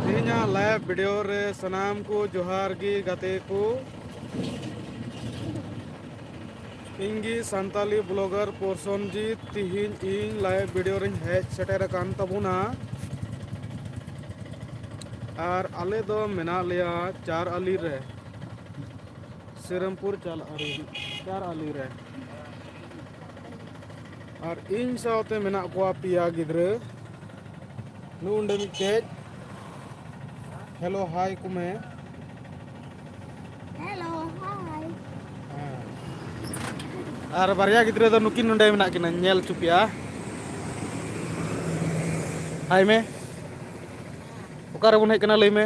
ᱛᱮᱦᱮᱧᱟᱜ live video ᱨᱮ ᱥᱟᱱᱟᱢ ᱠᱚ ᱡᱚᱦᱟᱨ ᱜᱮ ᱜᱟᱛᱮ ᱠᱚ ᱤᱧ ᱜᱮ ᱥᱟᱱᱛᱟᱞᱤ ᱵᱞᱚᱜᱟᱨ ᱯᱨᱚᱥᱚᱱᱡᱤᱛ ᱛᱤᱦᱤᱧ ᱤᱧ ᱞᱟᱭᱤᱵᱷ ᱵᱷᱤᱰᱭᱳ ᱨᱤᱧ ᱦᱮᱡ ᱥᱮᱴᱮᱨ ᱟᱠᱟᱱ ᱛᱟᱵᱚᱱᱟ ᱟᱨ ᱟᱞᱮ ᱫᱚ ᱢᱮᱱᱟᱜ ᱞᱮᱭᱟ ᱪᱟᱨ ᱟᱞᱤ ᱨᱮ ᱥᱤᱨᱟᱢᱯᱩᱨ ᱪᱟᱞ ᱟᱞᱤ ᱪᱟᱨ ᱟᱞᱤ ᱨᱮ ᱟᱨ ᱤᱧ ᱥᱟᱶᱛᱮ ᱢᱮᱱᱟᱜ ᱠᱚᱣᱟ ᱯᱮᱭᱟ ᱜᱤᱫᱽᱨᱟᱹ ᱱᱩᱜᱼᱩᱸᱰᱮ ᱢᱤᱫᱴᱮᱡ ᱦᱮᱞᱳ ᱦᱟᱭ ᱠᱚ ᱢᱮ ᱦᱮᱞᱳ ᱦᱟᱭ ᱟᱨ ᱵᱟᱨᱭᱟ ᱜᱤᱫᱽᱨᱟᱹ ᱫᱚ ᱱᱩᱠᱤᱱ ᱱᱚᱸᱰᱮ ᱢᱮᱱᱟᱜ ᱠᱤᱱᱟ ᱧᱮᱞ ᱦᱚᱪᱚ ᱯᱮᱭᱟ ᱦᱟᱭ ᱢᱮ ᱚᱠᱟᱨᱮᱵᱚᱱ ᱦᱮᱡ ᱠᱟᱱᱟ ᱞᱟᱹᱭ ᱢᱮ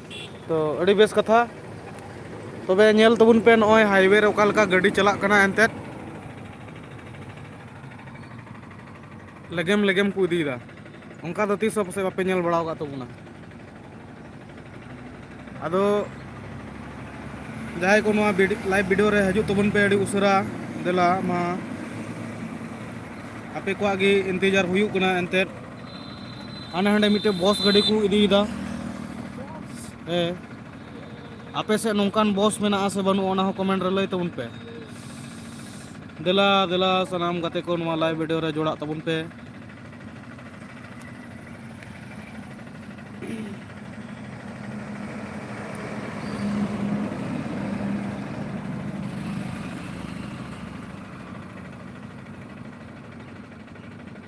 ᱛᱚ ᱟᱹᱰᱤ ᱵᱮᱥ ᱠᱟᱛᱷᱟ ᱛᱚᱵᱮ ᱧᱮᱞ ᱛᱟᱵᱚᱱ ᱯᱮ ᱱᱚᱜᱼᱚᱭ ᱦᱟᱭᱣᱮ ᱨᱮ ᱚᱠᱟ ᱞᱮᱠᱟ ᱜᱟᱹᱰᱤ ᱪᱟᱞᱟᱜ ᱠᱟᱱᱟ ᱮᱱᱛᱮᱫ ᱞᱮᱜᱮᱢ ᱞᱮᱜᱮᱢ ᱠᱚ ᱤᱫᱤᱭᱮᱫᱟ ᱚᱱᱠᱟ ᱫᱚ ᱛᱤᱥ ᱦᱚᱸ ᱯᱟᱥᱮᱡ ᱵᱟᱯᱮ ᱧᱮᱞ ᱵᱟᱲᱟ ᱟᱠᱟᱫ ᱛᱟᱵᱚᱱᱟ ᱟᱫᱚ ᱡᱟᱦᱟᱸᱭ ᱠᱚ ᱱᱚᱣᱟ ᱞᱟᱭᱤᱵᱷ ᱵᱷᱤᱰᱤᱭᱳ ᱨᱮ ᱦᱤᱡᱩᱜ ᱛᱟᱵᱚᱱ ᱯᱮ ᱟᱹᱰᱤ ᱩᱥᱟᱹᱨᱟ ᱫᱮᱞᱟ ᱢᱟ ᱟᱯᱮ ᱠᱚᱣᱟᱜ ᱜᱮ ᱤᱱᱛᱮᱡᱟᱨ ᱦᱩᱭᱩᱜ ᱠᱟᱱᱟ ᱮᱱᱛᱮᱫ ᱦᱟᱸᱰᱮ ᱦᱟᱸᱰᱮ ᱢᱤᱫᱴᱮᱱ ᱵᱚᱥ ᱜᱟᱹᱰᱤ ᱠᱚ ᱤᱫᱤᱭᱮᱫᱟ ᱦᱮᱸ ᱟᱯᱮ ᱥᱮᱫ ᱱᱚᱝᱠᱟᱱ ᱵᱚᱥ ᱢᱮᱱᱟᱜᱼᱟ ᱥᱮ ᱵᱟᱹᱱᱩᱜᱼᱟ ᱚᱱᱟ ᱦᱚᱸ ᱠᱚᱢᱮᱱᱴ ᱨᱮ ᱞᱟᱹᱭ ᱛᱟᱵᱚᱱ ᱯᱮ ᱫᱮᱞᱟ ᱫᱮᱞᱟ ᱥᱟᱱᱟᱢ ᱜᱟᱛᱮ ᱠᱚ ᱱᱚᱣᱟ ᱞᱟᱭᱤᱵᱷ ᱵᱷᱤᱰᱤᱭᱳ ᱨᱮ ᱡᱚᱲᱟᱜ ᱛᱟᱵᱚᱱ ᱯᱮ